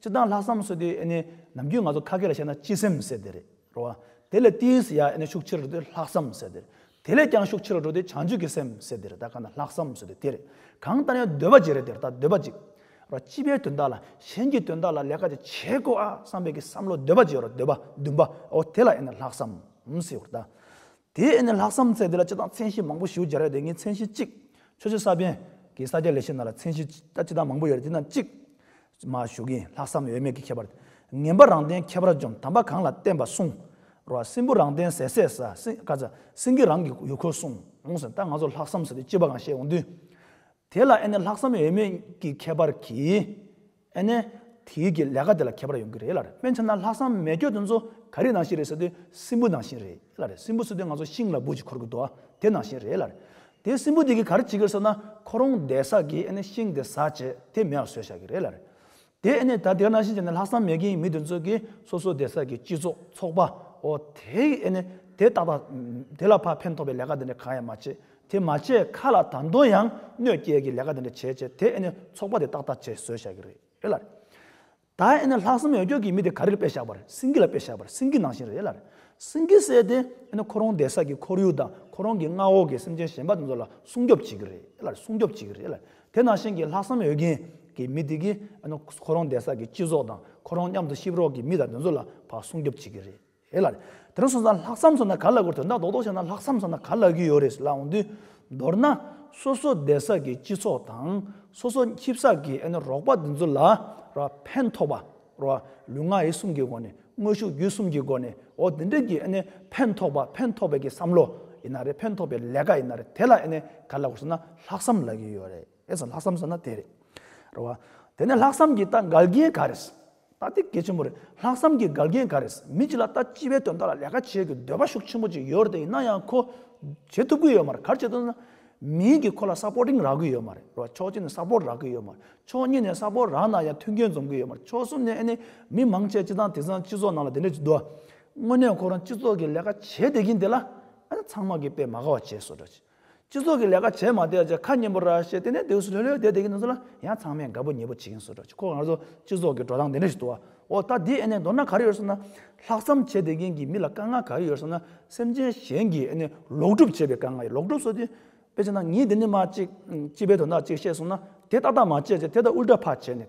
སྤྱི་བཏང་ལྷག་བསམ་སོགས་དེ་ནི་ནམ་རྒྱུན་ང་ཚོ་ཁ་སྐད་ལ་བཤད་ན་སྤྱི་སེམས་ཟེར་དེ་རེད་རོ། དེ་ལས་ཏིས་ཡ་ཨེ་ནི་ཤུགས་ཆེ་རུ་འགྲོ་དེ་ལྷག་བསམ་ཟེར་དེ། དེ་ལས་ཀྱང་ཤུགས་ཆེ་རུ་འགྲོ་དེ་བྱང་ཆུབ་ཀྱི་སེམས་ཟེར་དེ་རེད་ད་གང་ལྟར་ལྷག་བསམ་སོགས་དེ་དེ་རེད། གང་ལྟར་ཡང་འདོད་པ་གཅིག་རེད་དེ་རེད་ད་འདོད་པ་གཅིག། རོ། སྤྱི་པའི་དོན་དག་ལ་གཞན་གྱི་དོན་དག་ལ་ལས་ཀ་ཅིག་བྱེད་དགོས་ཨ་བསམ་པའི་གི་བསམ་བློ་འདོད་པ་གཅིག་རོ་འདོད་པ་བདུན་པ་འོ་དེ་ལ་ཨེ་ནི་ལྷག་བསམ། ཟེར་རོ། དེ་ཡིན་ན་ལྷག་བསམ་ཚེ་འདི་ལ་སྤྱི་དང་མཚན་གཞི་མང་པོ་ཞུ་རྒྱུ་རེད་དེ་ངས་མཚན་གཞི་གཅིག། ཆོས་རྗེ་ས་པཎ་གྱི་ས་སྐྱ་ལས་བྱེད་རྣམས་ལ་མཚན་གཞི་སྤྱི་དང་མང་པོ་ཡོད་རེད་དེ་རྣམས་གཅིག། མ་ཞུ་གིན་ལྷག་བསམ་ཡོད་མེད་ཀྱི་ཁྱད་པར་དེ། ངན་པ་རང་བསྟན་ཁྱད་པར་འཇོམས་དམ་པ་གང་ལ་བསྟན་པ་གསུང། རོ་ཨ་སྲིན་པོ་རང་བསྟན་ཟས་ཟས་ཟ་སྲིན་ཀ་ཟ་སྲིན་གྱིས་རང་གི་ཡུལ་འཁོར་སྲུང་འོང་ཟིན་ད་ང་ཚོར་ལྷག་བསམ་ཟེར་དུས་སྤྱི་པ་གང་བཤད་འོང་དུས། དེ་ལ་ཨེ་ནས་ལྷག་བསམ་ཡོད་མེད་ཀྱི་ཁྱད་པར་གྱིས། ཨེ་ནས། དེ་ཡུལ་གྱི་ལས་ཀ་དེ་ལ་ཁྱད་པར་ཡོང་གི་རེད་ལ་རེད་དཔེ་མཚོན་ན་ལྷག་བསམ་མེད་ཁྱོད་དེ་ཚོ་ག་རིགས་ནང་བཞིན་རེད་ཟེར་དུས་སྲིན་འབུ་ནང་བཞིན་རེད་ལ་རེད་སྲིན་འབུ་ཟེར་དུས་ང་ཚོ་ཤིང་ལ་འབུ་ཅིག་འཁོར་གི་འདུག་ཨ་དེ་ནང་བཞིན་རེད་ལ་རེད། དེ་སྲིན་འབུ་དེ་གིས་ག་རེ་བྱེད་ཀིར་ཟེར་ན་ཁོ་རང་བསྡད་ས་གིས་ཨེ་ནས་ཤིང་དེ་ཟ་བྱེད་དེ་མེ་བ་ཟོས་བཞག་གི་རེད་ལ་རེད། དེ་ཨེ་ནས་ད་དེ་ག་ནང་བཞིན་བྱས་ནས་ལྷག་བསམ་མེད་ཀིའི་མི་དེ་ཚོ་གིས་སོ་སོ་བསྡད་ས་གིས་སྤྱི་ཚོགས་ཚོགས་པ་འོ་དེ་ཡིས་ཨེ་ནས་དེ་ཏག་ཏག་དེ་ལ་ཕ་ཕན་ཐོག་པའི་ལས་ཀ་དེ་འདྲ་གང་ཡང་མ་བྱེད་དེ་མ་བྱས་ཁ་ལ་དང་དོན་ཡང་གནོད་སྐྱེལ་གྱི་ལས་ཀ་དེ་འདྲ་བྱས་བྱས་དེ་ཨེ་ནི་ཚོགས་པ་དེ་ཏག་ཏག་བྱེད་བཟོད་བྱ་གི་རེད་ལ། ད་ཨེ་ནི་ལྷག་བསམ་ཡོད་སྐྱོ་གི་མི་དེ་ག་རེར་དཔེ་བཞག་པར་སེང་གེ་ལ་དཔེ་བཞག་པར་སེང་གེ་ནང་བཞིན་རེད་ལ། སེང་གེ་བསད་དེ་ཨེ་ནི་ཁོ་རང་འདས་ས་ཀྱི་ཁོར་ཡུག་དང་ཁོ་རང་གི་མངའ་འོག་གི་སེམས་ཅན་གཞན་པ་དེ་ཚོ་ལ་སྲུང་སྐྱོབ་བྱེད་ཀྱི་རེད་ལ་སྲུང་སྐྱོབ་བྱེད་ཀྱི་རེད་ལ་དེ་ནང་བཞིན་གྱི་ལྷག་བསམ་ཡོད་མཁན་གྱི་མི་དེ་གིས་ཨེ་ནི་ཁོ་རང་འདས་ས་ཀྱི་སྤྱི་ཚོགས་དང་ཁོ་རང་མཉམ་དུ་གཤིབ་རོགས་ཀྱི་མི་དང་དེ་ཚོ་ལ་བར་སྲུང་སྐྱོབ་བྱེད་ཀྱི་རེད། ཞེས་ལ། དེ་རིང་སོང་ཙང་ལྷག་བསམ་སོང་ན་ག་ལ་དགོས་དོན་དག་རྡོག་རྡོག་བྱས་ན་ལྷག་བསམ་སོང་ན་ག་ལ་གི་ཡོད་རེད་ལབ་འོང་དུས། མདོར་ན། སོ་སོ་སྡེ་བསགས་ཀྱི་སྤྱི་ཚོགས་དང། སོ་སོ་ཁྱིབ་བསགས་ཀྱི་ཨ་ནི་རོགས་པ་འདི་ཚོ་ལ། རོ། ཕན་ཐོགས་པ། རོ། ལུས་ངག་ཡིད་གསུམ་གྱི་སྒོ་ནས་དངོས་ཤུགས་རྒྱུད་གསུམ་གྱི་སྒོ་ནས་འོ་དེ་འདྲས་ཀྱི་ཨ་ནི་ཕན་ཐོགས་པ་ཕན་ཐོགས་པའི་ཀྱི་བསམ་བློ་ཡིན་ན་རེད་ཕན་ཐོགས་པའི་ལས་ཀ་ཡིན་ན་རེད་དེ་ལ་ཨ་ནི་ག་ལ་དགོས་སོང་ན་ལྷག་བསམ་ལ་གི་ཡོད་རེད་ཨེ་ས་ལྷག་བསམ་སོང་ན་དེ་རེད། རོ། དེ་ནས་ལྷག་བསམ་གྱི་ད་འགལ་རྐྱེན་ག་རེད། ད་ལྟའི་དགེ་ཆེན་པོ་རེད་ལྷག་བསམ་གྱི་དགའ་རྒན་འགའ་རེས་མི་གཅིག་ལ་ལྟ་སྤྱི་བའི་དོན་དག་ལ་ལས་ཀ་བྱེད་དགོས་འདོད་པ་ཤུགས་ཆེན་པོ་གཅིག་ཡོད་རེད་དེ་ཡིན་ན་ཡང་ཁོ་བྱེད་ཐུབ་ཀྱི་ཡོད་མ་རེད་གར་བྱེད་ཐུབ་ན་མིན་གྱི་ཁོ་ལ Supporting རག་གི་ཡོད་མ་རེད་རོ་ཕྱོགས་གཅིག་ནས Support རག་གི་ཡོད་མ་རེད་ཕྱོགས་གཉིས་ནས Support རག་ན་ཡང་མཐུན་རྐྱེན་འཛོམས་ཀྱི་ཡོད་མ་རེད་ཕྱོགས་གསུམ་ནས་ཨེ་ནས་མི་མང་ཆེ་སྤྱི་ཚང་དེ་ཚང་སྤྱི་ཚོགས་ནང་ལ་དེ་འདྲས་འདུག་དངོས་གནས་ཁོ་རང་སྤྱི་ཚོགས་ཀྱི་ལས་ཀ་བྱེད་བསྡད་ཀྱིན་དེ་ལ་ཨེ་ན་ཚང་མ་གིས་དཔེ་མ་ག་བ་བྱས་སོ་སྒྲ་ཅི། སྤྱི་ཚོགས་ཀྱི་ལས་ཀ་བྱས་མ་བསྡད་ཅེས་ཁ་སྙན་པོ་ར་བཤད་དེ་ནས་དེ་ཧུས་ལྷོད་ལྷོད་བསྡད་དེ་གི་ནང་ཚུད་ལ་ཡང་ཚང་མས་དགའ་པོ་ཉེས་པོ་བྱེད་ཀྱིན་སོ་དྲག་ཅིག་ཁོ་ང་ཚོ་སྤྱི་ཚོགས་ཀྱི་འགྲོ་སྟངས་དེ་འདྲ་ཞིག་དུ་བ་འོ་ད་དེའི་ཨེ་ནས་མདོར་ན་ག་རེ་ཡོད་ཟེར་ན། ལྷག་བསམ་བྱེད་བསྡད་མཁན་གྱི་མི་ལ་དཀའ་ངལ་ག་རེ་ཡོད་ཟེར་ན་སེམས་ཅན་གཞན་གྱིས་ཨེ་ནས་ལོག་སྒྲུབ་བྱེད་པའི་དཀའ་ངལ་ལོག་སྒྲུབ་སོ་དེ། དཔེ་ཆ་ན་ངས་འདི་ནས་མ་གཅིག་སྤྱི་པའི་དོན་དག་གཅིག་བཤད་སོང་ན་དེ་ཏག་ཏག་མ་བྱེད་ཅེས་དེ་ལྟར་དབུལ་དྲག་ཕར་བྱས་ནས།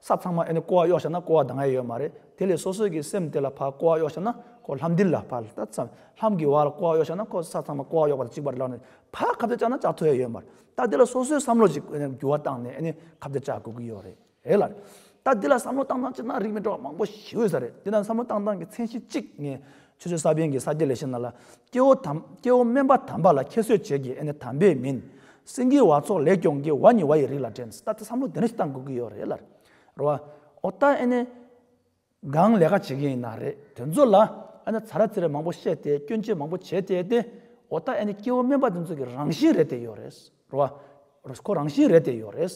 ས་ཚང་མ་ཨེ་ནི་ཀོ་བ་གཡོགས་བཞག་ན་ཀོ་བ་ད་ང་ཡོད་མ་རེད་དེ་ལས་སོ་སོས་ཀྱི་སེམས་དེ་ལ་ཕ་ཀོ་བ་གཡོགས་བཞག་ན་ཁོ་ལྷམ་འདི་ལ་ཕ་ལྟ་ཚ་ལྷམ་གྱི་བ་ལ་ཀོ་བ་གཡོགས་བཞག་ན་ཁོ་ས་ཚང་མ་ཀོ་བ་གཡོགས་པ་དང་གཅིག་པ་རེད་ལབ་ནས་ཕ་ཁ་བརྡ་བཅག་ན་བཅག་ཐུ་ཨེ་ཡོད་མ་རེད་ད་དེ་ལ་སོ་སོས་བསམ་བློ་ཞིག་ཨེ་ནི་འགྱུར་བ་བཏང་ནས་ཨེ་ནི་ཁ་བརྡ་བཅག་དགོས་ཀྱི་ཡོད་རེད་ལ། ད་དེ་ལ་བསམ་བློ་བཏང་ཐང་ཅིག་ན་རིགས་མི་འདྲ་བ་མང་པོ་ཞིག་ཡོད་ས་རེད་དེ་ན་བསམ་བློ་བཏང་སྟངས་ཀྱི་མཚན་གཞི་གཅིག་ངས་ཆོས་ཆོས་ས་བོན་གྱི་ས་སྐྱེ་ལས་ཤེ་ན་ལ། སྐྱེ་བོ་དམ། སྐྱེ་བོ་དམན་པ་དམ་པ་ལ་ཁྱད་གསོད་བྱེད་ཀྱི་ཨེ་ནི་དམ་པས་མིན། སེང་གེའི་བ་ཚོགས་ལེགས་སྐྱོང་གི་བ་ནི་བ་ཡི་རིགས་ལ་དྲན། ད་ལྟ་བསམ་བློ་དེ་འདྲ་ཞིག་གཏང་དགོས་ཀྱི་ཡོད་རེད་ལར། རོ་བ། འོ་ད་ཨེ་ནི། གང་ལས་ཀ་བྱེད་མཁན་ཡིན་ན་རེད་དོན་ཚོ་ལ། ཨ་ན་ཚ་ར་ཚིར་མང་པོ་བཤད་དེ་སྐྱོན་ཆེ་མང་པོ་བྱས་དེ་ཨེ་ཏེ། འོ་ད་ཨེ་ནི་སྐྱེ་བོ་དམན་པ་དེ་ཚོ་གི་རང་བཞིན་རེད་དེ་ཡོད་རེད། རོ་ཨ། ཁོ་རང་བཞིན་རེད་དེ་ཡོད་རེད།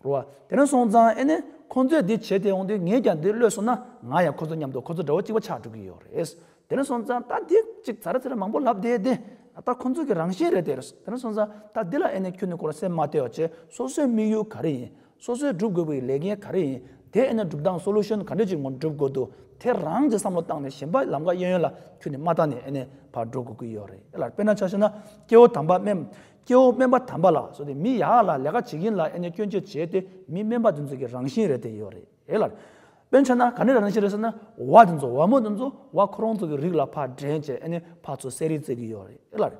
རོ་ཨ། དེ་ན་སོང་ཙང་ཨེ་ནས་ཁོང་ཚོས་འདི་བྱས་དེ་འོང་དུས་ངས་ཀྱང་འདི་གློད་སོང་ན་ང་ཡང་ཁོ་ཚོ་མཉམ་དུ་ཁོ་ཚོ་འདྲ་བོ་གཅིག་པ་ཆགས་འགྲོ་གི་ཡོད་རེད། དེ་ན་སོང་ཙང་ད་དེ་གཅིག་ཚར་ཚར་མང་པོ་ལབ་བསྡད་དེ། ད་ཁོང་ཚོ་གི་རང་བཞིན་རེད་དེ། དེ་ན་སོང་ཙང་ད་འདི་ལ་ཨེ་ནས་ཁྱོད་ནི་ཁོ་ལ་སེམས་མ་བཏེ་བ་བྱས་སོ་སོའི་དམིགས་ཡུལ་ག་རེ་ཡིན། སོ་སོའི་སྒྲུབ་དགོས་པའི་ལས་འགན་ག་རེ་ཡིན། དེ་ཨེ་ནས་སྒྲུབ་སྟངས Solution ག་འདྲས་ཀྱི་ངང་སྒྲུབ་དགོས་འདུག་དེ་རང་གིས་བསམ་བློ་བཏང་ནས་གཞན་པ་ལམ་ཀ་གཡས་གཡོན་ལ་ཁྱོད་ནི་མ་བཏང་ནས་ཨེ་ནས་བར་འགྲོ་དགོས་ཀྱི་ཡོད་རེད། དཔེར་ན་ཆ་ཤས་ན་སྐྱེ་བོ་དམ་པ་དམན་སྐྱེ་བོ་དམན་པ་དམ་པ་ལ་བཟོ་སྟེ་མི་ཡག་ལ་ལས་ཀ་བྱེད་ཀྱིན་ལ་ཨེ་ནས་སྐྱོན་བརྗོད་བྱས་ཏེ་མི་དམན་པ་འདི་ཚོ་གི་རང་བཞིན་རེད་དེ་ཡོད་རེད་ཨེ་ལར། དཔེ་མཚོན་ན་ག་ནས་རང་བཞིན་རེད་ཟེར་ན་བ་འདི་ཚོ་བ་མོ་འདི་ཚོ་བ་ཁོ་རང་ཚོ་གི་རིགས་ལ་ཕ་འདྲེན་བྱས་ཨེ་ནས་ཕ་ཚོ་བསད་རིགས་བཙས་ཀྱི་ཡོད་རེད་ཨེ་ལར།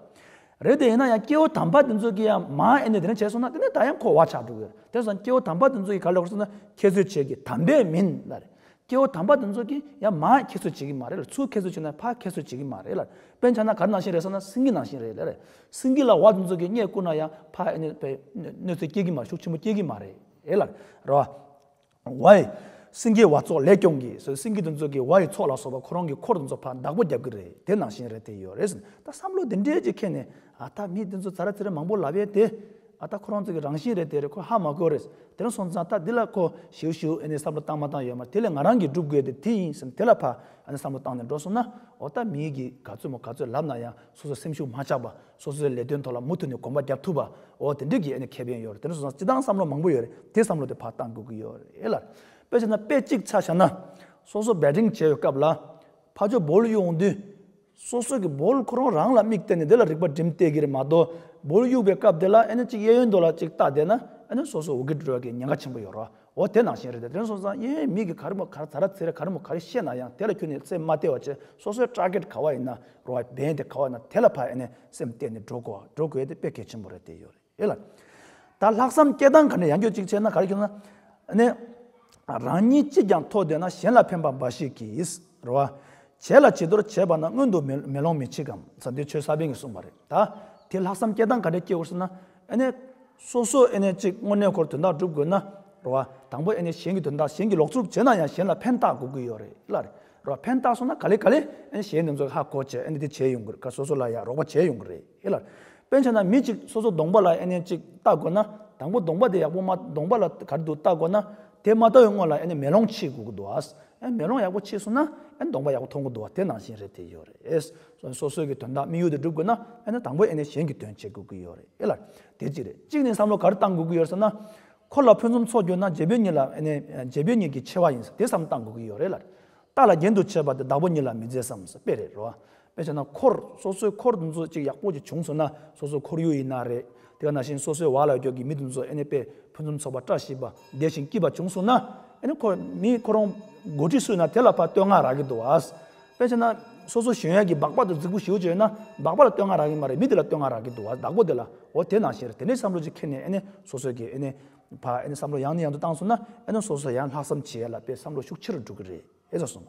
རེད་དེ་ཡིན་ན་ཡང་སྐྱེ་བོ་དམ་པ་འདི་ཚོ་གི་ཡང་མ་ཨེ་ནས་དེ་ནས་བྱས་སོང་ན་དེ་ནས་ད་ཡང་ཁོ་བ་ཆགས་འགྲོ་གི་ཡོད་རེད་དེ་བཟང་སྐྱེ་བོ་དམ་པ་འདི་ཚོ་གི་ག་ལ་ཡོད་ཟེར་ན་ཁྱེད་ཚོས་བྱས་ཀྱི་དམ་པས་མིན་ལར། སྐྱེ་བོ་དམ་པ་དེ་ཚོ་གིས་ཡང་མ་ཁྱད་གསོད་བྱེད་ཀྱི་མ་རེད་ལ་ཚུར་ཁྱད་གསོད་བྱེད་ན་ཕ་ཁྱད་གསོད་བྱེད་ཀྱི་མ་རེད་ལ་དཔེ་ཆ་ན་གར་ནང་བཞིན་རེད་ས་ན་སེང་གེ་ནང་བཞིན་རེད་ལ་སེང་གེ་ལ་བ་དེ་ཚོ་གིས་རྙེད་བཀུར་ན་ཡང་ཕ་ཨེ་ནི་པའི་གནོད་འཚེ་སྐྱེལ་གྱི་མ་རེད་ཤུགས་ཆེན་པོ་སྐྱེལ་གྱི་མ་རེད་ལ་རེད་བ། བ་ཡི། སེང་གེའི་བ་ཚོགས་ལེགས་སྐྱོང་གིས་སོས་སེང་གེ་དེ་ཚོ་གིས་བ་ཡི་ཚོགས་ལ་སོགས་པ་ཁོ་རང་གི་འཁོར་དེ་ཚོ་ཕ་བདག་པོ་རྒྱབ་ཀྱི་རེད་དེ་ནང་བཞིན་རེད་དེ་ཡོད་རེད་ཟེར་ན་ད་བསམ་བློ་དེ་འདྲས་ཀྱིས་ཁེངས་ནས་ཨ་ཐ་མི་འདི་ཚོ་ཟ་ར་ཚི་ར་མང་པོ་ལབ་ཡོད་དེ། ཨ་ཐ་ཁོ་རང་ཚོ་གི་རང་བཞིན་རེད་དེ་རེད་ཁོ་ཧ་མ་གོ་རེད། དེ་རིང་སོང་ཙང་ད་འདི་ལ་ཁོ་ཞེའུ་ཞེའུ་ཨེ་ནས་བསམ་བློ་བཏང་མ་བཏང་ཡོད་མ་དེ་ལས་ང་རང་གི་སྒྲུབ་དགོས་དེ་དེ་ཡིན་སེམས་དེ་ལ་ཕ་ཨ་ནས་བསམ་བློ་བཏང་ནས་འགྲོ་སོང་ན་ཨོ་ད་མི་གི་ག་ཚོད་མོ་ག་ཚོད་ལབ་ན་ཡང་སོ་སོ་སེམས་ཤུགས་མ་ཆག་པ་སོ་སོའི་ལས་དོན་ཐོག་ལ་མུ་མཐུད་ནས་གོམ་པ་བརྒྱབ་ཐུབ་པ་ཨོ་དེ་འདྲི་གི་ཨེ་ནས་ཁེ་ཕན་ཡོད་རེད་དེ་རིང་སོང་ཙང་ཅི་ལྟའང་བསམ་བློ་མང་པོ་ཡོད་རེད་དེ་བསམ་བློ་དེ་ཕ་བཏང་དགོས་ཀི་ཡོད་རེད་ལར། དཔེ་བྱས་ན་དཔེ་གཅིག་ཆ་བཞག་ན། སོ་སོ་འབད་འབྲིང་བྱས་ཡོད་སྐབས་ལ། ཕ་ཇོ་བོ་ལུས་ཡོང་དུས། སོ་སོ་གི་བོལ་ཁོ་རང་རང་ལ་དམིགས་བསྟན་ནས་དེ་ལ་རིག་པ་སྒྲིམ་བལྟས་ཀིར་མ་གཏོགས་བོལ་གཡུག་པའི་སྐབས་དེ་ལ་ཨེ་ན་གཅིག་གཡས་གཡོན་དོ་ལ་གཅིག་བལྟ་བསྡད་ན་ཨེ་ན་སོ་སོ་འོ་གིར་འགྲོ་ཡ་གི་ཉེན་ཁ་ཆེན་པོ་ཡོད་རོ་འོ་དེ་ནང་བཞིན་རེད་དེ་དོན་སོང་ཙང་གཡས་གཡོན་མིག་གི་ག་རི་མོ་གར་ད་ར་ཚེ་རི་ག་རི་མོ་ག་རི་ཤེས་ན་ཡང་དེ་ལ་ཁྱོད་ནི་སེམས་མ་གཏད་བ་ཆེ་སོ་སོའི་སྐྲག་སྐད་ག་བ་ཡིན་ན་རོ་བ་བན་དེ་ག་བ་ཡིན་ན་དེ་ལ་ཕ་ཨེ་ན་སེམས་གཏད་ནས་འགྲོ་དགོ་འགྲོ་དགོས་ཡ་དེ་དཔེ་གལ་ཆེན་པོ་རེད་དེ་ཡོད་རེད། ཡོད་ལ། ད་ལྷག་བསམ་སྐྱེ་སྟངས་ག་ནས་ཡང་སྐྱོ་གཅིག་བྱས་ན་ག་རེ་ཁྱོད་ན། ནས། རང་ཉིད་གཅིག་ཀྱང་མཐོ་བསྡད་ན་གཞན་ལ་ཕན་པ་འབའ་ཞིག་གིས་རོ། བྱས་ལ་བྱི་དོར་བྱས་པ་ན་སྔོན་དུ་མེ་ལོང་མི་མཆི་གམ་ས་འདི་ཆོས་ས་པན་གྱིས་གསུངས་པ་རེད་ད། དེ་ལྷག་བསམ་སྐྱེ་སྟངས་ག་རེ་སྐྱེ་འོར་ཟེར་ན། ནས། སོ་སོ་ནས་གཅིག་དངོས་གནས་འཁོར་དོན་དག་སྒྲུབ་དགོས་ན་རོ། དང་པོ་ནས་གཞན་གྱི་དོན་དག་གཞན་གྱིས་ལོག་འཚུབ་བྱས་ན་ཡང་གཞན་ལ་ཕན་བཏགས་དགོས་ཀྱི་ཡོད་རེད་ལ། རོ། ཕན་བཏགས་སོང་ན་ག་ལེ་ག་ལེ། གཞན་འདི་ཚོ་ཧ་གོ་བྱས་འདི་བྱས་ཡོང་དགོས་རེད་ཀ་སོ་སོ་ལ་ཡང་རོགས་པ་བྱས་ཡོང་དགོས་རེད། ཨེ་ལ། དཔེར་མཚོན་ན་མི་གཅིག་སོ་སོ་གདོང་པ་ལ་ཨེ་ནས་གཅིག་བལྟ་དགོས་ན། དང་པོ་གདོང་པ་དེ་ཡག་པོ་མ་གདོང་པ་ལ་གར་འདུག་བལྟ་དགོས་ན། དེ་མ་ལྟ་བའི་སྔོན་ལ་ཨེ་ནས་མེ་ལོང་ཕྱིས་དགོས་འདུག་ཨཱས། ཨེ་མེ་ལོང་ཡག་པོ་ཕྱིས་སོང་ན་ཨེ་གདོང་པ་ཡག་པོ་མཐོང་དགོས་འདུག་ཨཱ་དེ་ནང་བཞིན་རེད་དེ་ཡོད་རེད། སོ་སོའི་གི་དོན་དག་དམིགས་ཡུལ་དུ་སྒྲུབ་དགོས་ན་ཨེ་ནས་དང་པོ་ཨེ་ནས་གཞན་གི་དོན་བྱེད་དགོས་ཀྱི་ཡོད་རེད་ཨེ་ལ། དེ་གཅིག་རེད་གཅིག་ནས་བསམ་བློ་གར་བཏང་དགོས་ཀྱི་ཡོད་ཟེར་ན། ཁོ་ལ་ཕུན་སུམ་ཚོགས་རྒྱུ་ན་རྗེ་བོད་གཉིས་ལ་ཨེ་ནས་རྗེ་བོད་གཉིས་ཀྱི་ཆེ་བ་ཡིན་ཟེར་དེ་བསམ་བཏང་དགོས་ཀྱི་ཡོད་རེད་ལ། རྟགས་ལ་རྒྱན་དུ་བྱས་པ་དེ་བདག་པོ་གཉིས་ལ་མི་མཛེས་སམ་ཟེར་དཔེ་རེད་རོ། དཔེ་བྱས་ན་འཁོར་སོ་སོའི་འཁོར་དུ་འཛོ་ཅིག་ཡག་པོ་ཅིག་བྱུང་སོང་ན་སོ་སོ་འཁོར་ཡུལ་ཡིན་ན་རེད་དེ་བ་ན་བཞིན་སོ་སོའི་བ་ལ་རྒྱོག་གི་མི་དུ་འཛོ་ཨེ་ནས་དཔེ་ཕུན་སུམ་ཚོགས་པ་བཀྲ་ཤིས་པ་བདེ་ཞིང་སྐྱིད་པ་བྱུང་སོང་ན་ཨེ་ནས་འཁོར་མི་ཁོ་རང་མགོ་ཁྲིད་སུས་ན་དེ་ལ་ཕ་བསྟོད་བསྔགས་རག་གི་འདུག་བ། དཔེ་བྱས་ན་སོ་སོ་གཞོན་ཡག་གི་སྦག་སྦག་དུ་རྫིག་པོ་ཞིག་བྱོས་ན་སྦག་སྦག་ལ་བསྟོད་བསྔགས་རག་གི་མ་རེད་མི་དེ་ལ་བསྟོད་བསྔགས་རག་གི་འདུག་བ་བདག་པོ་དེ་ལ་འོ་དེ་ན་བཞིན་རེད་དེ་འདྲའི་བསམ་བློ་ཅིག་ཁྱེར་ནས་ཨེ་ནས་སོ་སོ་གི་ཨེ་ནས་ཕ་ཨེ་ནས་བསམ་བློ་ཡང་ནས་ཡང་དུ་བཏང་སོང་ན་ཨེ་ནས་སོ་སོ་ཡང་ལྷག་བསམ་བྱེད་ཡ་ལ་དཔེ་བསམ་བློ་ཤུགས་ཆེ་རུ་འགྲོ་གི་རེད་ཟེར་སོང།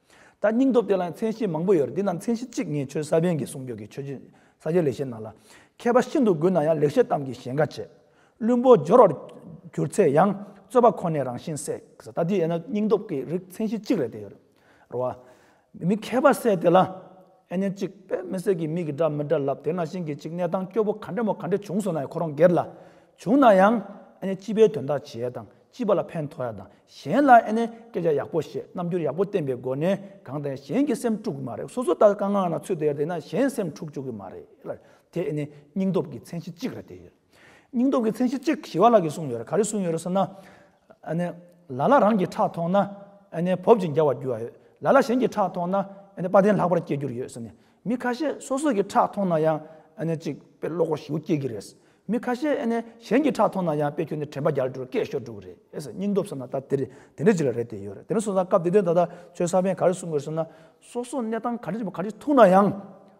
ད་སྙིང་སྟོབས་དེ་ལའང་མཚན་གཞི་མང་པོ་ཡོད་རེད་འདི་རྣམས་མཚན་གཞི་གཅིག་ངས་ཆོས་ས་པན་གྱི་གསུང་བརྒྱུད་ཀྱི་ཆོས་རྗེ་ས་སྐྱའི་ལེགས་བཤད་ནང་ལ། མཁས་པ་ཤིན་ཏུ་དགོས་ན་ཡང་ལེགས་བཤད་གཏམ་གྱི་ཞེན་ཁ་བྱེད། བླུན་པོ་སྦྱོར་བར་གྱུར་ཚེ་ཡང་རྩོད་པ་ཁོ་ནས་རང་བཞིན་བསྲེག་ཟེར་ད་འདི་ཡས་ན་སྙིང་སྟོབས་ཀྱི་རིགས་མཚན་གཞི་གཅིག་རེད་དེ་ཡོད་རེད་བ། མི་མཁས་པ་བསད་དེ་ལ། ཨེ་ཉན་གཅིག་པད་མི་སྲས་ཀྱི་མིག་གི་སྒྲ་མི་འདྲ་ལབ་དེ་ན་ཤིང་གི་གཅིག་གནས་དང་སྐྱོ་བོ་ག་འདྲ་མོ་ག་འདྲ་བྱུང་སོང་ན་ཡང་ཁོ་རང་སྒེར་ལ། བྱུང་ན་ཡང། ཨེ་ཉན་སྤྱི་པའི་དོན་དག་བྱས་དང་སྤྱི་པ་ལ་ཕན་ཐོགས་ཡ་དང་གཞན་ལ་ཨེ་ནས་སྐད་ཆ་ཡག་པོ་བཤད་རྣམ་འགྱུར་ཡག་པོ་བསྟན་པའི་སྒོ་ནས་གང་དང་གཞན་གྱི་སེམས་དཀྲུག་གི་མ་རེད་སོ་སོ་ད་དཀའ་ངལ་ན་ཚུད་དེ་ཡར་དེད་ན་གཞན་སེམས་འཁྲུག་བཅུག་གི་མ་རེད་ལ་དེ་ཨེ་ནས་སྙིང་སྟོབས་ཀྱི་མཚན་གཞི་གཅིག་རེད་དེ་ཡོད་སྙིང་སྟོབས་ཀྱི་མཚན་གཞི་གཅིག་ཞི་བ་ལགས་ཀྱིས་གསུངས་ཡོད་རེད་ག་རེ་གསུངས་ཡོད་རེད་ཟེར་ན་ཨེ་ནས་ལ་ལ་རང་གི་ཁྲག་ཐོགས་ན་ཨེ་ནས་བོབ་ཅིང་རྒྱ་བ་རྒྱུ་བ་ཡོད་ལ་ལ་གཞན་གྱི་ཁྲག་ཐོགས་ན་ཨེ་ནས་དཔའ་ལྡན་ལྷག་པར་སྐྱེ་རྒྱུར་ཡོད་ཟེར་ནས་མི་ཁ་ཤས་སོ་སོ་གི་ཁྲག་མཐོང་ན་ཡང་ཨ་ཅིག་དཔེ་ཀློག་གོ་ཞེའུ་སྐྱེས་ཀྱི་རེད། མི་ཁ་ཤས་གཞན་གྱི་ཁྲག་མཐོང་ན་ཡང་དཔེ་ཁྱོད་ནི་དྲན་པ་རྒྱ་འགྲོ་སྐད་ཤོར་འགྲོ་གི་རེད་ཟེར་སྙིང་སྟོབས་ཟེར་ན་ད་དེ་རེད་དེ་འདྲ་ཅིག་ལ་རེད་དེ་ཡོད་རེད་དེ་ནས་བཟུང་ས་སྐབས་དེ་དོན་ད་ལྟ་ཚོའི་ས་པན་ག་རེ་གསུང་དགོས་ཟེར་ན། སོ་སོ་གནས་སྟངས་ག་རེ་ག་རེ་ཐུག་ན་ཡང་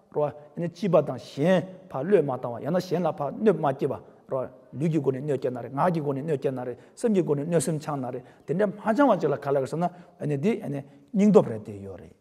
རོ། སྐྱིད་པ་དང་གཞན་ཕ་བློས་མ་བཏང་བ་ཡང་ན་གཞན་ལ་ཕ་གནོད་མ་སྐྱེལ་བ་རོ། ལུས་ཀྱི་སྒོ་ནས་གནོད་སྐྱེལ་ན་རེད་ངག་གི་སྒོ་ནས་གནོད་སྐྱེལ་ན་རེད་སེམས་ཀྱི་སྒོ་ནས་གནོད་སེམས་འཆང་ན་རེད་དེ་འདྲ་མ་འཆང་བ་ཅིག་ལ་ག་ལ་དགོས་ཟེར་ན། འདི་སྙིང་སྟོབས་རེད་དེ་ཡོད་རེད།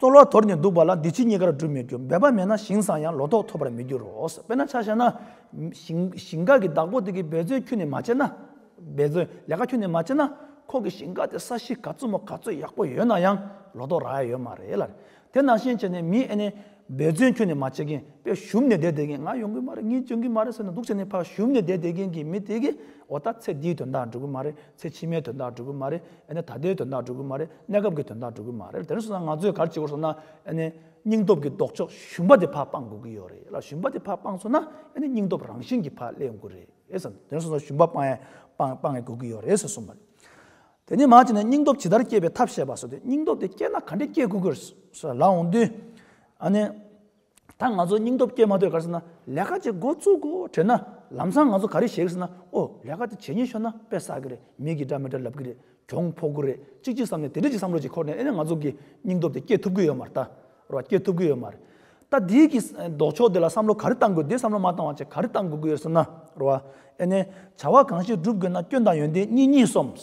གཙོ་ལ་དོར་ནས་འདུག་པ་ལ་འདི་ཕྱི་གཉིས་ཀར་སྒྲུབ་མི་འགྱུར་འབད་པ་མེད་ན་ཞིང་བཟང་ཡང་ལོ་ཏོག་ཐོབ་པར་མི་འགྱུར་རོ། དཔེར་ན་ཆ་བཤད་ན། ཞིང་འགའ་གི་བདག་པོ་དེ་གིས་འབད་བརྩོན་ཁྱུ་ནས་མ་བྱས་ན། འབད་བརྩོན་ལས་ཀ་ཁྱུ་ནས་མ་བྱས་ན། ཁོ་གི་ཞིང་འགའ་དེ་ས་གཞི་ག་ཙུག་མོ་ག་ཙུག་ཡག་པོ་ཡོད་ན་ཡང་ལོ་ཏོག་རག་ཡ་ཡོད་མ་རེད་ལ། དེ་ནང་བཞིན་བྱས་ནས་མི་ཨེ་ནས། འབད་བརྩོན་ཁྱུ་ནས་མ་བྱས་མཁན་པས་ཞུམ་ནས་བསྡད་བསྡད་མཁན་ང་ཡོང་གི་མ་རེད་ངས་འཇོན་གི་མ་རེད་ཟེར་ནས་འདུག་བྱས་ནས་ཕ་ཞུམ་ནས་བསྡད་བསྡད་མཁན་གྱི་མི་དེ་གིས་འོ་ད་ཚེ་འདིའི་དོན་དག་འགྲུབ་གི་མ་རེད་ཚེ་ཕྱི་མའི་དོན་དག་འགྲོ་གི་མ་རེད་ཨེ་ནས་ད་ལྟའི་དོན་དག་འགྲོ་གི་མ་རེད་གནས་སྐབས་ཀྱི་དོན་དག་འགྲོ་གི་མ་རེད་དེ་ནས་བཟུང་ན་ང་ཚོས་གར་བྱེད་དགོས་སོང་ན་ཨེ་ནས་སྙིང་སྟོབས་ཀྱི་ལྡོག་ཕྱོགས་ཞུམ་པ་དེ་ཕར་སྤང་དགོས་ཀྱི་ཡོད་རེད་ལ་ཞུམ་པ་དེ་ཕར་སྤངས་སོང་ན་ཨེ་ནས་སྙིང་སྟོབས་རང་བཞིན་གྱིས་ཕར་སླེབས་དགོས་རེད་བསམ་དེ་ནས་བཟུང་ན་ཞུམ་པ་སྤང་སྤང་དགོས་ཀྱི་ཡོད་རེད་ཟེར་སོང་བ་རེད། དེ་ནས་མ་ཅིག་ན་སྙིང་སྟོབས་ཇི་ལྟར་བསྐྱེད་པའི་ཐབས་བཤད་པ་སོགས་དེ་སྙིང་སྟོབས་དེ་བསྐྱེད་ན་ག་འདྲས་བསྐྱེད་དགོས་ཀྱི་རེད་ཟེར་ལ་འོང་དུས་ཨ་ནས། ད་ང་ཚོ་སྙིང་སྟོབས་སྐྱེས་མ་འདོད་ག་རེ་ཟེར་ན་ལས་ཀ་ཅིག་འགོ་བཙུག་གོ་དྲིས་ན་ལམ་སང་ང་ཚོ་ག་རེ་བྱེད་གི་ཟེར་ན་ཨོ་ལས་ཀ་དེ་བྱེད་ཉེན་ཤོར་ན་དཔེ་བསགས་གི་རེད་མི་གི་འདྲ་མི་འདྲ་ལབ་གི་རེད་གྱོང་ཕོག་གི་རེད་ཅིག་ཅིག་བསམ་ནས་དེ་འདྲ་ཅིག་བསམ་བློ་ཅིག་འཁོར་ནས་ཨེ་ན་ང་ཚོ་གི་སྙིང་སྟོབས་དེ་སྐྱེ་ཐུབ་གི་ཡོད་མ་རེད་ད་རེད་བ་སྐྱེ་ཐུབ་གི་ཡོད་མ་རེད་ད་འདི་གི་ལྡོག་ཕྱོགས་དེ་ལ་བསམ་བློ་ག་རེ་བཏང་དགོས་འདི་བསམ་བློ་མ་བཏང་བ་ཅིག་ག་རེ་བཏང་དགོས་གི་ཡོད་ཟེར་ན་རེད་བ་ཨེ་ནས་བྱ་བ་གང་ཞིག་བསྒྲུབ་དགོས་ན་སྐྱོན་དང་ཡོན་ཏན་གཉིས་གཉིས་སོམས།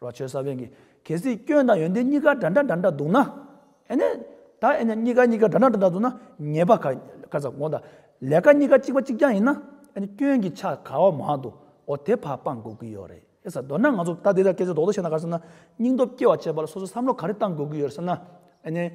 རོ་ཆོལ་ས་བོན་གྱི་གལ་སྲིད་སྐྱོན་དང་ཡོན་ཏན་གཉིས་ཀ་འདྲ་འདྲ་འདྲ་འདྲ་འདུག་ན། ཨེ་ནས། ད་ཨེ་ནས་གཉིས་ཀ་གཉིས་ཀ་འདྲ་འདྲ་འདྲ་འདྲ་འདུག་ན་ཉེས་པ་ག་ག་ཟ་གོང་དང། ལས་ཀ་གཉིས་ཀ་གཅིག་པ་གཅིག་རྐྱང་ཡིན་ན། ཨེ་ནས་སྐྱོན་གྱི་ཆ་ག་བ་མང་དུ་འོ་དེ་ཕ་སྤང་དགོས་ཀྱི་ཡོད་རེད་ཨེ་ཟ་འདོད་ན་ང་ཚོ་ད་དེ་དག་སྐད་ཆ་རྡོག་རྡོག་བཤད་ན་ག་ཟེར་ན། སྙིང་སྟོབས་སྐྱེ་བ་བྱེད་པ་ལ་སོ་སོ་བསམ་བློ་ག་རེ་གཏང་དགོས་ཀྱི་ཡོད་རེད་ཟེར་ན། ཨེ་ནས།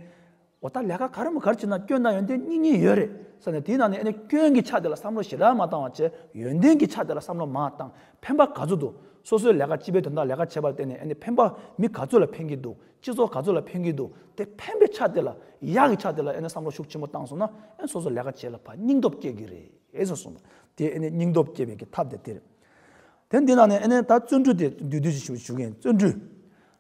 འོ་ད་ལས་ཀ་ག་རེ་མོ་གར་བྱེད་ན་སྐྱོན་ད་ཡོན་ཏན་གཉིས་གཉིས་ཡོད་རེད་བསམ་ནས་དེའི་ནང་ནས་ཨེ་ནས་སྐྱོན་གྱི་ཆ་དེ་ལ་བསམ་བློ་ཞེ་དྲག་མ་བཏང་བར་བྱས་ཡོན་ཏན་གྱི་ཆ་དེ་ལ་བསམ་བློ་མ་བཏང་ཕན་པ་ག་ཚོད་འདུག་སོ་སོའི་ལས་ཀ་སྤྱི་པའི་དོན་དག་ལས་ཀ་བྱས་པར་བརྟེན་ནས་ཨེ་ནས་ཕན་པ་མི་ག་ཚོད་ལ་ཕན་གྱི་འདུག་སྤྱི་ཚོགས་ག་ཚོད་ལ་ཕན་གྱི་འདུག་དེ་ཕན་པའི་ཆ་དེ་ལ་ཡག་གི་ཆ་དེ་ལ་ཨེ་ནས་བསམ་བློ་ཤུགས་ཆེན་པོ་བཏང་སོང་ན་ཨེ་སོ་སོ་ལས་ཀ་བྱས་ལ་ཕ་སྙིང་སྟོབས་སྐྱེ་གི་རེད་ཟེར་སོང། དེ་ཨེ་ནས་སྙིང་སྟོབས་སྐྱེ་བའི་གི་ཐབས་དེ་དེ་རེད། དེ་འདི་ནང་ནས་ཨེ་ནས་ད་བརྩོན་འགྲུས་དེ་འདུས་འདུས་ཞུ་མཁན་བརྩོན་འགྲུས།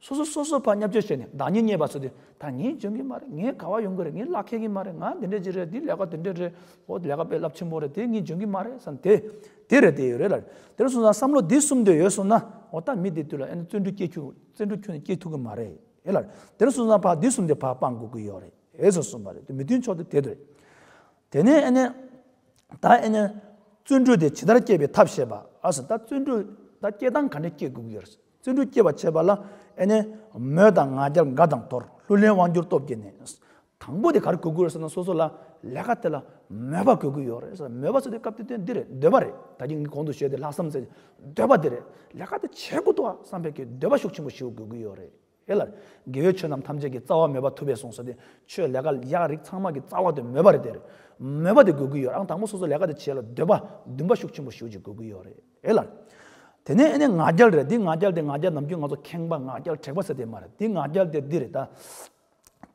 སོ་སོ་སོ་སོ་བར་མཉམ་སྤྱོད་བྱས་ནས་བདག་ཉིད་རྙེད་པ་སོགས་དེ་ད་ངས་འཇོན་གི་མ་རེད་ངས་ག་བ་ཡོང་གི་རེད་ངས་གླགས་འཁེལ་གི་མ་རེད་ང་འདི་འདྲས་ཅིག་རེད་འདི་ལས་ཀ་དེ་འདྲས་རེད་ཨོ་ལས་ཀ་དཔེ་རླབས་ཆེན་པོ་རེད་དེ་ངས་འཇོན་གི་མ་རེད་བསམ་དེ་དེ་རེད་དེ་ཡོད་རེད་ལ། དེར་སོང་ཙང་བསམ་བློ་འདི་གསུམ་འདོད་ཡོད་གསུངས་ན་ཨོ་ད་མི་དེ་དུས་ལ་ཨེ་ན་བརྩོན་འགྲུས་སྐྱེད་བརྩོན་འགྲུས་ཁྱོན་ནས་སྐྱེད་ཐུབ་གི་མ་རེད་ཨེ་ལ། དེར་སོང་ཙང་ཕ་འདི་གསུམ་དེ་ཕ་སྤང་དགོས་ཀྱི་ཡོད་རེད་ཨེ་སོགས་གསུངས་པ་རེད་དེ་མི་མཐུན་ཕྱོགས་དེ་དེ་རེད། དེ་ནས་ཨེ་ན། ད་ཨེ་ན། བརྩོན་འགྲུས་དེ་ཇི་ལྟར་སྐྱེད་པའི་ཐབས་བཤད་པ་ཨ་སོ་ད་བརྩོན་འགྲུས་ད་སྐྱེད་སྟངས་ག་འདྲས་སྐྱེད་དགོས་ཀྱི་ཡོད་རེད། བརྩོན་འགྲུས་སྐྱེད་པར་བྱེད་པ་ལ་ཨེ་ནས། མོས་དང་ང་རྒྱལ་འགའ་དང་དོར་ལྷུར་ལེན་དབང་སྒྱུར་སྟོབས་བསྐྱེད་ནས། དང་པོ་དེ་གར་གོ་དགོས་རེད་བསམ་ན་སོ་སོ་ལ་ལས་ཀ་དེ་ལ་མོས་པ་གོ་དགོས་ཡོད་རེད་བསམ་ན་མོས་པ་ཚོ་དེ་སྐབས་དེ་དོན་འདི་རེད་འདོད་པ་རེད་ད་གིན་ངས་གོང་དུ་ཞུས་དེ་ལྷག་བསམ་ཚེ་འདོད་པ་དེ་རེད་ལས་ཀ་དེ་བྱེད་དགོས་འདུག་བསམ་པའི་གི་འདོད་པ་ཤུགས་ཆེན་པོ་ཞིག་དགོས་ཀྱི་ཡོད་རེད་ཨེ་ལར། དགེ་བའི་ཆོས་རྣམས་ཐམས་ཅད་ཀྱི་རྩ་བ་མོས་པ་ཐུབ་པས་སོང་ཟེར་དེ་ཆོས་ལས་ཀ་ཡག་རིགས་ཚང་མ་གི་རྩ་བ་དེ་མོས་པ་རེད་དེ་རེད། མོས་པ་དེ་དགོས་ཀྱི་ཡོད་ཨང་དང་པོ་སོ་སོ་ལས་ཀ་དེ་བྱེད་ལ་འདོད་པ་འདུན་པ་ཤུགས་ཆེན་པོ་ཞིག་ཅིག་དགོས་ཀྱི་ཡོད་རེད། ཨེ་ལ། དེ་ནས་ཨེ་ནས་ང་རྒྱལ་རེད་འདི་ང་རྒྱལ་དེ་ང་རྒྱལ་ནམ་རྒྱུན་ང་ཚོ་ཁེངས་པ་ང་རྒྱལ་དྲེགས་པ་ཟེར་དེ་མ་རེད་འདི་ང་རྒྱལ་དེ་འདི་རེད་ད།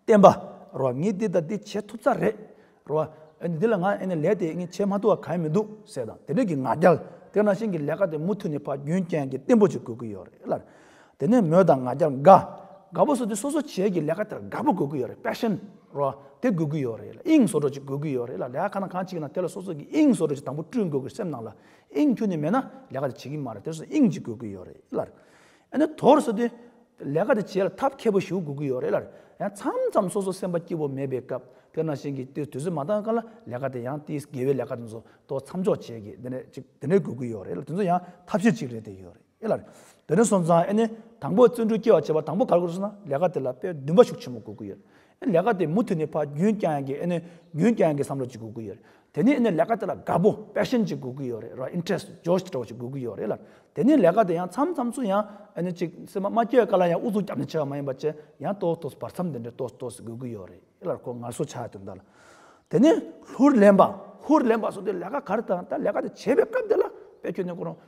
བསྟན་པ་རོ་ངས་འདི་དང་འདི་བྱེད་ཐུབ་ས་རེད་རོ། ཨེ་ནས་འདི་ལ་ང་ཨེ་ནས་ལས་དེ་ངས་བྱེད་མ་ཐུབ་བ་ག་ཡེ་མི་འདུག་ཟེར་དང་དེ་འདྲ་གི་ང་རྒྱལ་དེ་ནང་བཞིན་གི་ལས་ཀ་དེ་མུ་མཐུད་ནས་ཕ་རྒྱུན་རྐྱེན་གྱི་བརྟན་པོ་ཅིག་དགོས་ཀྱི་ཡོད་རེད་ཨེ་ལ། དེ་ནས་མོས་དང་ང་རྒྱལ་དགའ། དགའ་པོ་སོ་དེ་སོ་སོ་བྱེད་ཀྱི་ལས་ཀ་དེར་དགའ་པོ་དགོས་ཀྱི་ཡོད་རེད passion རོ། དེ་དགོས་ཀྱི་ཡོད་རེད་ཨེ་ལ་དབྱིངས་སོ་སོ་ཅིག་དགོས་ཀྱི་ཡོད་རེད་ཨེ་ལ་ལས་ཀ་གང་ན་གང་བྱེད་ཀྱི་ན་དེ་ལ་སོ་སོ་གྱི་དབྱིངས་སོ་སོ་ཅིག་དང་པོ་བསྐྲུན་དགོས་ཀྱི་སེམས་ནང་ལ་དབྱིངས་ཁྱོད་ནི་མེད་ན་ལས་ཀ་དེ་བྱེད་ཀྱི་མ་རེད་དེར་སོང་དབྱིངས་གཅིག་དགོས་ཀྱི་ཡོད་རེད་ཨེ་ལར། ཨེ་ནས་དོར་སོང་དུས། ལས་ཀ་དེ་བྱེད་ལ་ཐབས་མཁས་པོ་ཞུ་དགོས་ཀྱི་ཡོད་རེད་ཨེ་ལར། ཡང་མཚམས་མཚམས་སོ་སོ་སེམས་པ་སྐྱིད་པོ་མེད་པའི་སྐབས་དེར་ནང་བཞིན་གྱི་དུས་དུས་ཚོད་མ་འདང་སྐབས་ལ་ལས་ཀ་དེ་ཡང་དེའི་དགེ་བའི་ལས་ཀ་དེ་ཚོ་དོ་མཚམས་འཇོག་བྱེད་ཀྱི་དེ་འདྲས་ཅིག་དེ་འདྲས་དགོས་ཀྱི་ཡོད་རེད་ཨེ་ལར་དེ་ཚོ་ཡང་ཐབས་ཤེས་གཅིག་རེད་དེ་ཡོད་རེད་ཨེ་ལར། དེ་ནས་སོང་ཙང་ཨེ་ནས་དང་པོ་བརྩོན་འགྲུས་སྐྱེ་བར་བྱེད་པ་དང་པོ་ག་རེ་དགོས་སོང་ན་ལས་ཀ་དེ་ལ་དཔེ་བདུན་པ་ཞུགས་ཆེན་པོ་དགོས་ཀྱི་ཡོད་རེད་ལས་ཀ་དེ་མུ་མཐུད་ནས་ཕ་རྒྱུན་བསྐྱངས་ཡང་གི་ཨེ་ནི་རྒྱུན་བསྐྱངས་ཡང་གི་བསམ་བློ་ཅིག་དགོས་ཀི་ཡོད་རེད། དེ་ནས་ཨེ་ནི་ལས་ཀ་དེ་ལ་དགའ་པོ passion ཅིག་དགོས་ཀི་ཡོད་རེད་ར interest Josh སྤྲོ་བ་ཅིག་དགོས་ཀི་ཡོད་རེད་ལ། དེ་ནས་ལས་ཀ་དེ་ཡང་མཚམས་མཚམས་སུ་ཡང་ཨེ་ནི་ཅིག་སེམས་པ་མ་སྐྱོ་བའི་དཀའ་ལ་ཡང་ཨུ་ཚུགས་རྒྱབ་ནས་བྱས་པ་མ་ཡིན་པ་བཅས་ཡང་ཏོག་ཏོག་བར་མཚམས་དེ་འདྲའི་ཏོག་ཏོག་ཅིག་དགོས་ཀི་ཡོད་རེད་ལ་ཁོ་ངར་གསོ་བྱ་ཡ་དོན་དག་ལ། དེ་ནས་ལྷུར་ལེན་པ། ཧུར་ལེན་པ་སོགས་དེ་ལས་ཀ་ག་རེ་དང་ད་ལས་ཀ་དེ་བྱེད་པའི་སྐབས་དེ་ལ་དཔེ་ཁྱོད་ནས་གོ་རོང།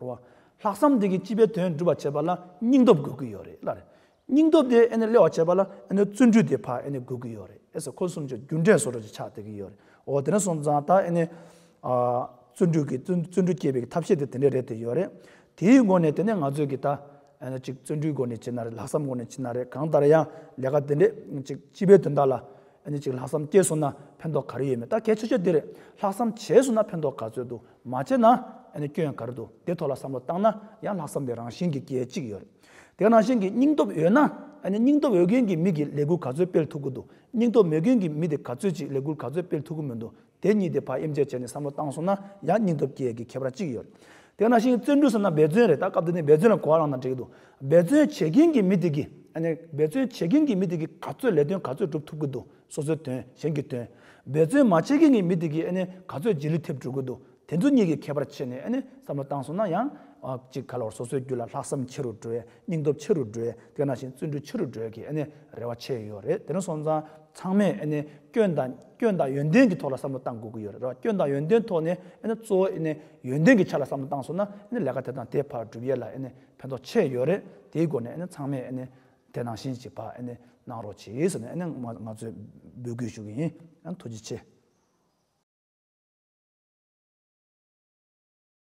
རེད་བ། ལྷག་བསམ་དེ་གིས་སྤྱི་པའི་དོན་སྒྲུབ་པར་བྱེད་པ་ལ་སྙིང་སྟོབས་དགོས་ཀྱི་ཡོད་རེད་ལར། སྙིང་སྟོབས་དེ་ཨེ་ནས་སླེ་བར་བྱེད་པ་ལ་ཨེ་ནས་བརྩོན་འགྲུས་དེ་ཕར་ཨེ་ནས་དགོས་ཀྱི་ཡོད་རེད་ཨེ་ཟེར་ཁོ་གསུམ་ཆ་རྒྱུ་འབྲས་སོ་སོར་ཆ་སྟེར་གྱི་ཡོད་རེད་འོ་དེ་ནས་སོང་ཙང་ད་ཨེ་ནས། བརྩོན་འགྲུས་ཀྱི་བརྩོན་འགྲུས་སྐྱེད་པའི་ཐབས་ཤེས་དེ་དེ་འདྲས་རེད་དེ་ཡོད་རེད། དེའི་སྒོ་ནས་དེ་ནས་ང་ཚོས་ཀྱི་ད་ཨེ་ནས་ཅིག་བརྩོན་འགྲུས་སྒོ་ནས་བྱེད་ན་རེད་ལྷག་བསམ་སྒོ་ནས་བྱེད་ན་རེད་གང་ལྟར་ཡང་ལས་ཀ་དེ་འདྲས་ཅིག་སྤྱི་པའི་དོན་དག་ལ་ཨེ་ནས་ཅིག་ལྷག་བསམ་སྐྱེས་སོང་ན་ཕན་ཐོགས་ག་རེ་ཡོད་མེད་ད་གལ་ཆེ་ཤོས་དེ་རེད་ལྷག་བསམ་བྱས་སོང་ན་ཕན་ཐོགས་ག་ཚོད་འདུག་མ་བྱས་ན་སྐྱོན་གར་འདུག་དེ་ཐོག་ལ་བསམ་བློ་བཏང་ན་ཡང་ལྷག་བསམ་དེ་རང་བཞིན་གྱི་སྐྱེ་གཅིག་ཡོད། དེ་རང་བཞིན་གྱི་སྙིང་སྟོབས་ཡོད་ན། སྙིང་སྟོབས་ཡོད་མཁན་གྱི་མི་གིས་ལས་འགུལ་ག་ཚོད་སྤེལ་ཐུབ་ཀྱི་འདུག་སྙིང་སྟོབས་མེད་མཁན་གྱི་མི་དེ་ག་ཚོད་ཅིག་ལས་འགུལ་ག་ཚོད་སྤེལ་ཐུབ་ཀྱི་མི་འདུག་དེ་གཉིས་དེ་ཕ་ཡེམ་བཅས་བྱས་ནས་བསམ་བློ་བཏང་སོང་ན་ཡང་སྙིང་སྟོབས་སྐྱེ་གི་ཁྱད་པར་གཅིག་ཡོད། དེ་རང་བཞིན་གྱི་བརྩོན་འགྲུས་ཟེར་ན་འབད་བརྩོན་རེད་ད་སྐབས་འདི་ནས་འབད་བརྩོན་ལ་གོ་བ་བླངས་ན་འགྲིག་གི་འདུག་འབད་བརྩོན་བྱེད་མཁན་གྱི་མི་དེ་གིས་འབད་བརྩོན་བྱེད་མཁན་གྱི་མི་དེ་གིས་ག་ཚོད་ལས་དོན་ག་ཚོད་སྒྲུབ་ཐུབ་ཀྱི་འདུག་སོ་སོའི་དོན་གཞན་གྱི་དོན། འབད་བརྩོན་མ་བྱེད་མཁན་གྱི་མི་དེ་གིས་ཨེ་ནི་ག་ཚོད་རྗེས་ལུས་ཐེབས་འགྲོ་གི་འདུག་དེ་ཚོ་གཉིས་ཀྱི་ཁྱད་པར་ཕྱེས་ནས་ཨེ་ནི་བསམ་བློ་བཏང་སོང་ན་ཡང། གཅིག་ག་ལ་བར་སོ་སོའི་རྒྱུད་ལ་ལྷག་བསམ་ཆེ་རུ་འགྲོའི་སྙིང་སྟོབས་ཆེ་རུ་འགྲོའི་དེ་ན་བཞིན་བརྩོན་འགྲུས་ཆེ་རུ་འགྲོའི་གི་ཨེ་ནི་རེ་བ་ཆེ་ཡོད་རེད་དེ་ནི་སོང་ཙང་ཚང་མས་ཨེ་ནི་སྐྱོན་དང་སྐྱོན་དང་ཡོན་ཏན་གྱི་ཐོག་ལ་བསམ་བློ་བཏང་དགོས་ཀྱི་ཡོད་རེད་རེད་བ་སྐྱོན་དང་ཡོན་ཏན་ཐོག་ནས་ཨེ་ནི་གཙོ་བོ་ཨེ་ནི་ཡོན་ཏན་གྱི་ཆ་ལ་བསམ་བློ་བཏང་སོང་ན་ཨེ་ནི་ལས་ཀ་དེ་དང་དེ་བར་འགྲུབ་ཡས་ལ་ཨེ་ནི་ཕན་ཐོག་ཆེ་ཡོད་རེད་དེའི་སྒོ་ནས་ཨེ་ནི་ཚང་མས་ཨེ་ནི་དེ་ནང་བཞིན་གྱི་བ་ཨེ་ནས་གནང་རོགས་གྱིས་ཟེར་ནས་ཨེ་ནས་ང་ཚོས་འབོད་སྐུལ་ཞུ་གི་ཡིན་ཨ་ཐུགས་རྗེ་ཆེ།